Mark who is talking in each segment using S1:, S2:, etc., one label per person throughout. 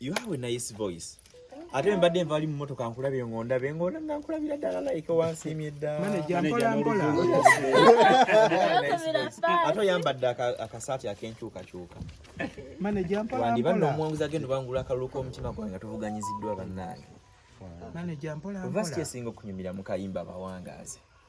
S1: You have a nice voice. Ate mbadde nvali mu motoka nkulabye ngonda be ngona nga nkulabira dala like wansi emyedda. Manager
S2: mpola mpola.
S1: Ate oyambadde akasaati akenkyuka kyuka. Manager
S2: mpola mpola. Wandi banno omwanguza gendo
S1: bangula akalulu k'omutima gwange tuvuganyiziddwa bannange. Manager
S2: mpola mpola. Vasi kyesinga okunyumira
S1: mu kayimba bawangaaze.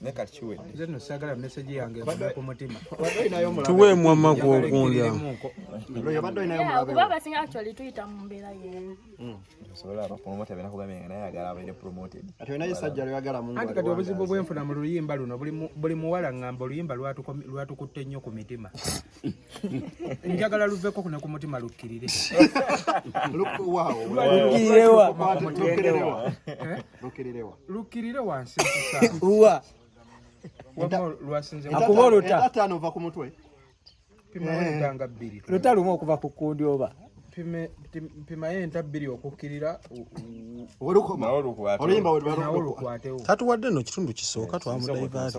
S3: naye kati kiwedde
S1: nze no sagala message
S2: yange ekume ku mutima tuwe
S4: mwama gw'okulya kuba
S3: abasinga actually tuyita mu mbeera y'emu hmm. osobola
S1: abapromota bena kugambye nga naye agala abaire promoted ati olina isajja
S5: lweyagala mungu anti kati obuzibu bwenfuna
S2: mu luyimba luno buli muwala ngamba oluyimba lwatukutte nnyo ku mitima njagala luveko kuno ku mutima lukkirire lukkirire wansi uwa lwasinze akuba oluta ataano
S5: ova ku mutwe
S2: pimaentanga eh. bbiri luta lumu okuva ku
S5: kundi oba
S2: mpimayo enta bbiri okukkirira
S5: oluyimbaolukwatewo
S2: tatuwadde no kitundu
S4: kisooka twamudayivaati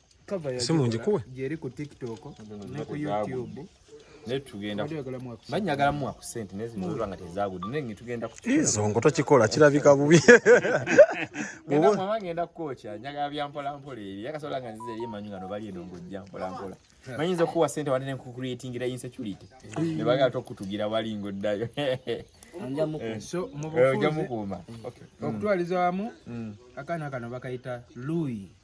S2: simu ngikuwe gyeri ku tiktok
S1: ne ku youtube izo ngo tokikola
S4: kirabika bubi
S1: ngenda kukoca njagala byampolampol eri akasobola nga nziza eri emanyi ngano bali eno ngojja mpolampola manyinza okukuwa sente wate nenkukuretingira insecurity nebagala tokutugira wali ngoddayo
S2: okutwaliza wamu akaana kano bakayita lui